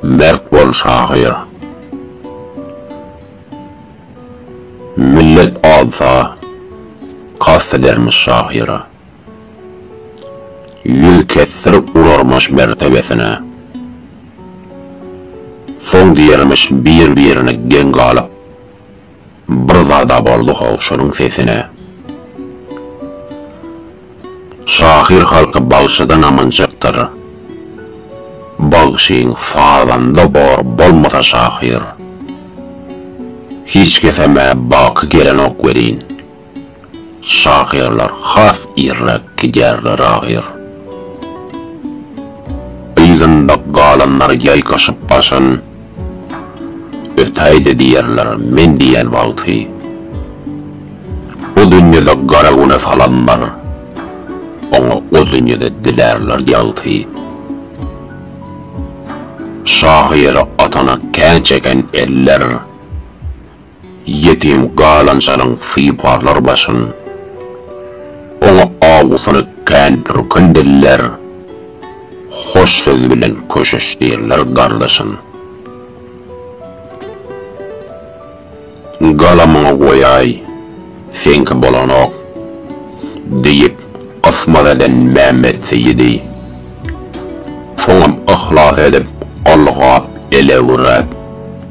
Mert bol şahyr. Millet alsa kast edermiş şahyra. Ýüz kesdirip urarmyş mertebesine. Soň diýermiş bir-birine geň galyp. Bir zada boldy-how şonuň sesine. Şahyr halky bagşydan amanjakdyr. Bagşyň sazanda bor bolmasa şahyr. Hiç kesem-ä baky gelenok welin. Şahyrlar has irräk gidýärler ahyr. Yzynda galanlar ýaýkaşyp başyn, Ötäý-de diýerler men diýen wagty. Bu dünýede gara güne salanlar, Oňa o dünýede dilärler ýagty. Şahyra atana kän çeken eller. Ýetim galanjalyň syparlar başyn. Oňa awusyny kän pürkün diller. Hoş söz bilen köşeşdirler gardaşyn. Galamyňy goýaý, seňki bolanok, diýip, gysmat eden Mämmet Seýidi. Soňam yhlas edip, golgap, elewrap.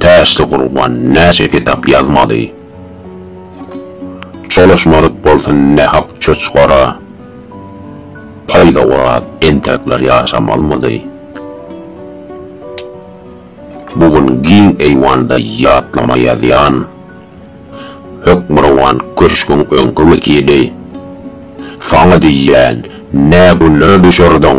Täşli gurban näçe kitap ýazmaly. Çolaşmadyk bolsun nähak çoçgara. Paýda oraz entekler ýaşamalmydy. Bu gün giň eýwanda ýatlama ýazýan. Hökmürowan köşgüň öňki wekili. Saňa diýýän, nä günlere düşerdiň.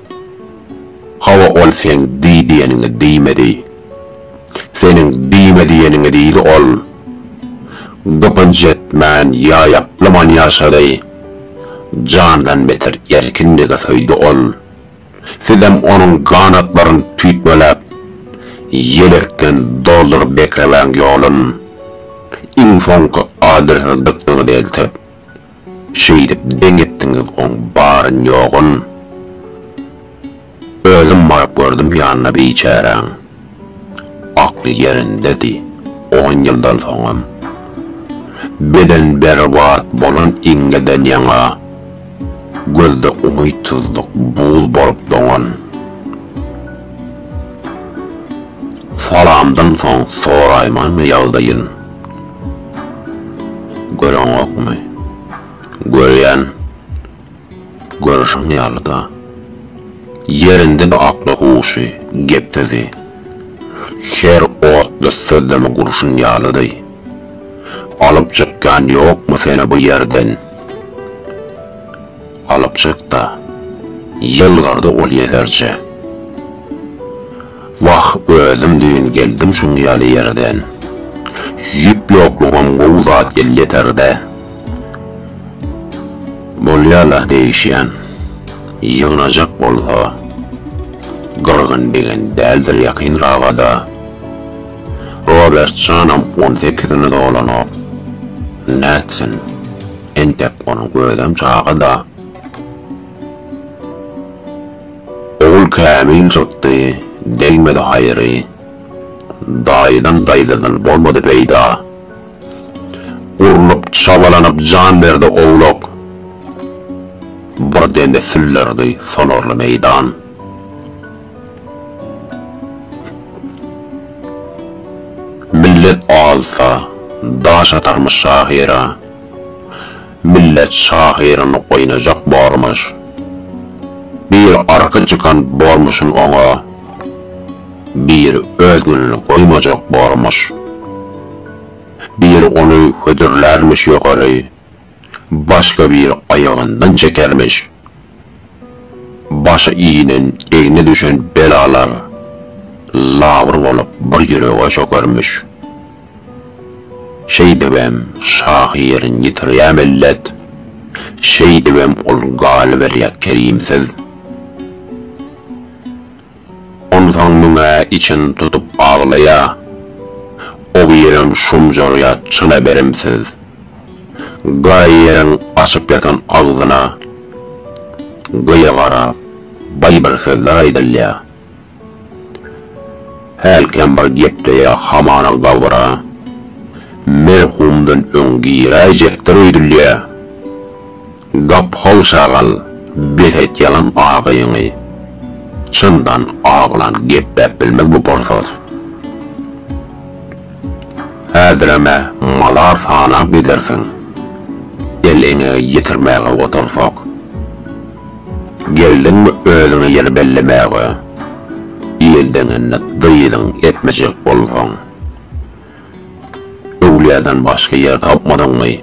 Hawa ol seň diý diýeniňi diýmedi. Seniň diýme diýeniňi diýdi ol. Gypynç etmän ýaýaplaman ýaşady. Jandan beter erkinligi söýdi ol. Sizem onuň ganatlaryn tüýtmeläp, ýelekden dolduryp bekremäň ýolun. Iň soňky adresiniň dykyny eltip, Şeýdip deň etdiňiz oň baryn ýogyn. Özüm baryp gördüm ýanyna biçäräň. Akly ýerindedi, on ýyldan soňam. Beden berbat bolan iňňeden ýaňa gözde umytsyzlyk buz bolup doňan. Salamdan soň soraýmymy ýagdaýyn? Göreňokmy? Görýän. Görşüň ýaly-da. Ýerinde bir akly huşy, gepsizi. Her otly sözlemi gurşun ýalydy. Alyp çykýan ýokmy seni bu ýerden? Alyp çyk-da. Ýylgyrdy ol ýeserje. Wah özüm düýn geldim şuň ýaly ýerden. Ýüp ýoklugam gowy zat elýeterde. Bolýala degişýän. Ýygnajak bolsa gyrgyn degen däldir ýakyn rabada. Robert janam on sekizini dolanok. Nätsin. Entek onuň özem çagada. Ogul kämil çykdy, degmedi haýry. Daýydan daýzadan bolmady peýda. Urlup, çabalanyp jan berdi owlak. Bir demde süllerdi sonarly meýdan. Millet alsa, daş atarmyş şahyra. Millet şahyryny oýnajak bormuş. Bir arka çykan bormuşyn oňa, bir özgünini goýmajak bormuş. Bir ony hödürlärmiş ýokary, başga bir aýagyndan çekermiş, Başy iginen, egne düşen belalar labyr bolup bir ýürege çökermiş. Şeýdibem şahyryň ýitirýär millet, şeýdibem ol galyberýär kerimsiz. Onsoň muňa içini tutup aglaýa. O birem şumjarýa çyna berimsiz. Gaýy ýeriň açyk ýatan agzyna gyýa garap baý bir sözler aýdylýa. Hälkem bir gepleýä hamana gabra merhumdan öň giräýjekdir öýdülýä. Gapyhol şagal bes et ýalan agyňy çyndan aglan gepläp bilmez bu porsat. Häzirem-ä malar sanap gidersiň el eňegi ýetirmäge otursak. Geldiňmi özüňe ýer bellemäge ildeňinde dyzyň epmejek bolsaň. Öwlüýadan başga ýer tapmadyňmy?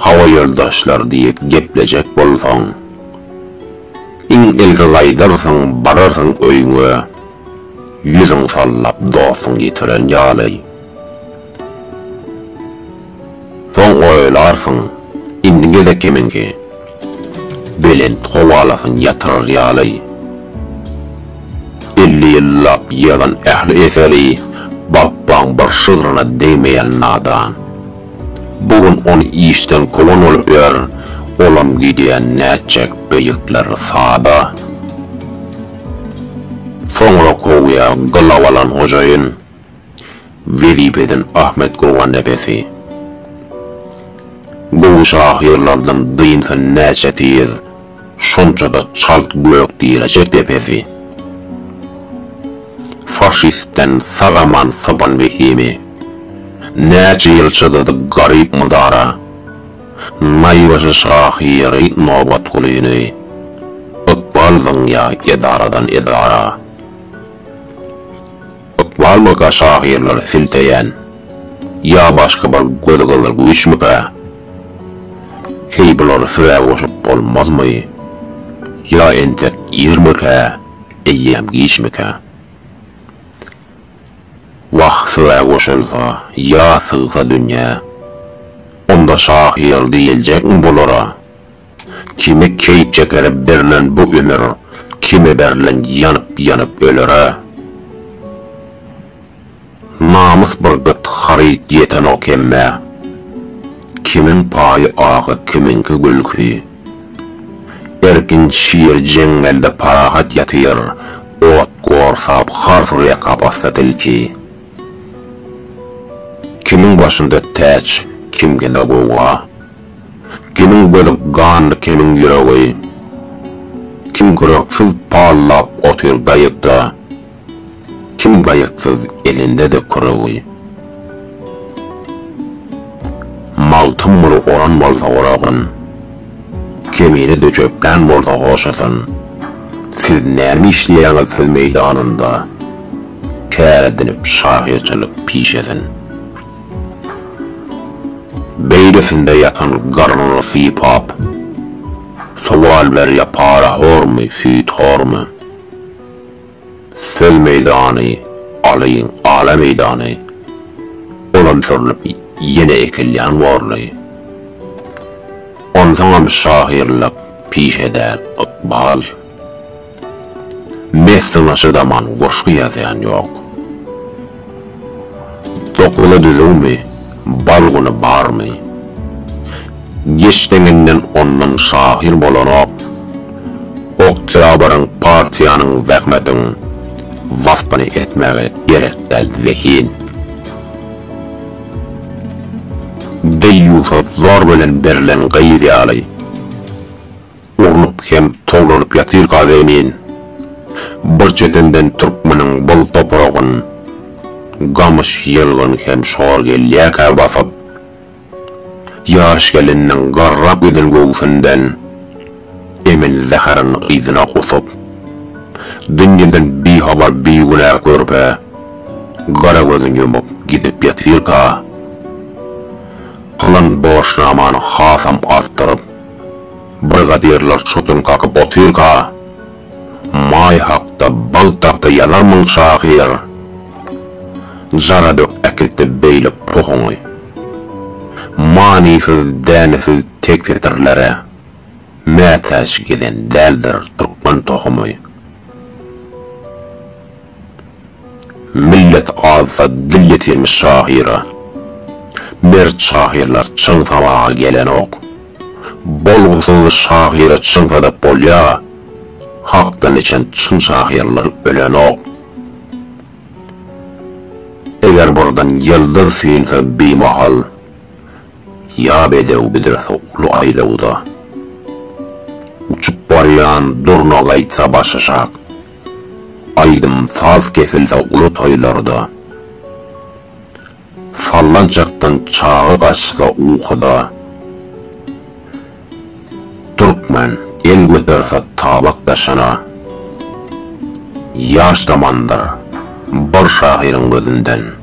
Hawa ýoldaşlar diýip geplejek bolsaň, iň ilki gaýdarsyň, bararsyň öýüňe, ýüzüň sallap dostuň ýitiren ýaly. Soň oýlarsyň, indi gezek kimiňki? Belent howalasyny ýatyrar ýaly, elli ýyllap ýygan ähli eseri Bapbaň bir şygryna degmeýän nadan. Bu gün ony işden kowan bolup ýör, olam gidýän nätjek beýikler sada. Soňra kowýa gylaw alan hojaýyn. Wezipeden Ahmet Gurgannepesi Gowy şahyrlardan dynsa näçe tiz, şonça-da çalt gök diýlejek depesi. Faşistden sag-aman sypan wehimi, näçe ýyl çydady garyp mydara, naýbaşy şahyry Nobatgulyny, ykbal zyňýa edaradan edara. Ykbalmyka şahyrlary silteýän ýa başga bir gözgyzyl güýçmükä? Heý bulary size goşup bolmazmy? Ýa entek irmikä, eýýäm giçmikä? Wah size goşulsa ýa sygsa dünýä, onda şahyr diýiljekmi bulara? Kime keýp çekere berlen bu ömür, Kime berlen ýanyp-ýanyp ölere. Namys bir gyt haryt ýetenok hemmä, Kimiň paýy agy, kimiňki gülki. Erkin şir jeňňelde parahat ýatyr, Ot gorsap har sürýä kapasda tilki. Kimiň başynda täç, kimkinde gowga. Kimiň gözi ganly kimiň ýüregi Kim gyraksuz pallap otyr gaýykda Kim gaýyksyz elinde-de küregi Magtym muny oran bolsa oragan Kemine döçeklän bolsa hoşatan Siz näme işleýäňiz söz meýdanynda Kär edinip şahyrçylyk pişesin. Beýlesinde ýatan garnyny sypap, sowal berýär para hormy, süýt hormy? Söz meýdany alyň, ala meýdany. Olam sürlüp ýene ekilýän borly. Onsoňam şahyrlyk pişe däl, ykbal. Mesden aşa zaman goşgy ýazýan ýok. Dokmada düzüwmi, balguny barmy? Geç deňinden ondan şahyr bolanok. Oktýabryň, partiýanyň, zähmetiň waspyny etmäge gerek däl zehin. Deýýusa zor bilen berlen gyz ýaly. Urnup hem tolanyp ýatyr gaz emin. Bir çetenden türkmeniň bol topragyn gamyş ýylgyn hem şor gelýärkä basyp. Ýaş geliniň garrap giden göwsünden emin zäherin yzyna gusup. Dünýeden bihabar bigünä körpe gara gözün ýumup gidip ýatyrka. Kylan borçnamany hasam artdyryp. Brigadirler çotuny kakyp otyrka, Maý hakda bal tagta ýazarmyň, şahyr? Jara dök äkilt-de beýle pohuňy. Manysyz, dänesiz tek setirlere mätäç gezen däldir türkmen tohumy. Millet azsa dil ýetirmiş şahyra. Mert şahyrlar çyn sabaga gelenok. Bolgusyz şahyra çyn sadap bolýa. Hakdan içen çyn şahyrlar ölenok. Eger burdan ýyldyz synsa bimahal. Ýa bedew biderse uly aýlawda. Uçup barýan durna gaýtsa başaşak. Aýdym saz kesilse uly toýlarda, Sallançakdan çaga gaçsa ukuda, Türkmen el göterse tabak daşyna, Ýaş zamandyr bir şahyryň gözünden.